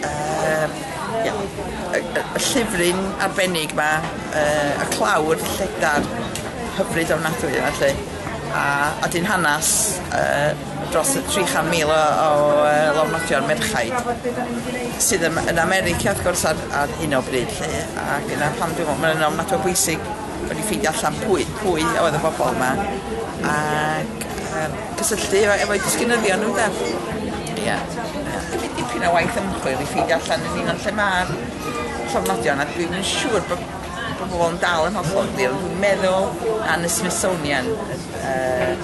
Yr ia y y y llyfryn arbennig 'ma yy y clawr lledar hyfryd ofnadwy yma 'lly a a 'di'n hanas yy dros y tri chan mil o o yy lofnodion merchaid sydd ym- yn America wrth gwrs ar ar hyn o bryd 'lly ac dyna pam dwi me'wl ma' ynna'n ofnadw o bwysig bo' ni ffeindio allan pwy pwy oedd y bobol 'ma ac yym cysylltu efo efo'u disgynyddion nhw ynde? Ia. Ia. Dwi 'di dipyn o waith ymchwil i ffeindio allan yn union lle ma'r llofnodion a dwi'm yn siŵr bo' bo' pobol yn dal yn hollol glir ond dwi'n meddwl na yn y Smithsonian yy yy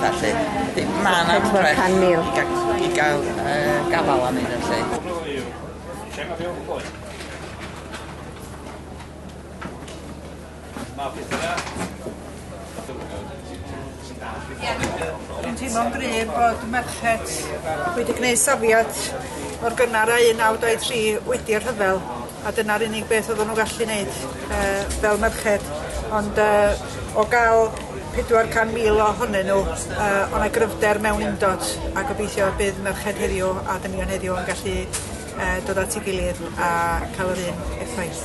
petha 'lly. Felly ma' 'na rwbeth i ga- i ga'l yy gafal arnyn nw 'lly. Lle ma' Bill Foy? Dwi'n teimlo'n gryf bod merched wedi gwneud safiad mor gynnar â 1923 wedi y rhyfel, a dyna'r unig beth oedden nhw'n gallu wneud yy fel merched, ond yy o gael 400,000 ohonyn nhw yy o' 'na gryfder mewn undod, a gobeithio y bydd merched heddiw a dynion heddiw yn gallu yy dod at ei gilydd a cael yr un effaith.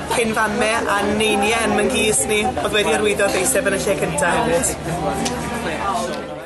Cyn fame a neinie yn myn gys ni, odd wedi arwyddo deiseb yn y lle cynta hefyd.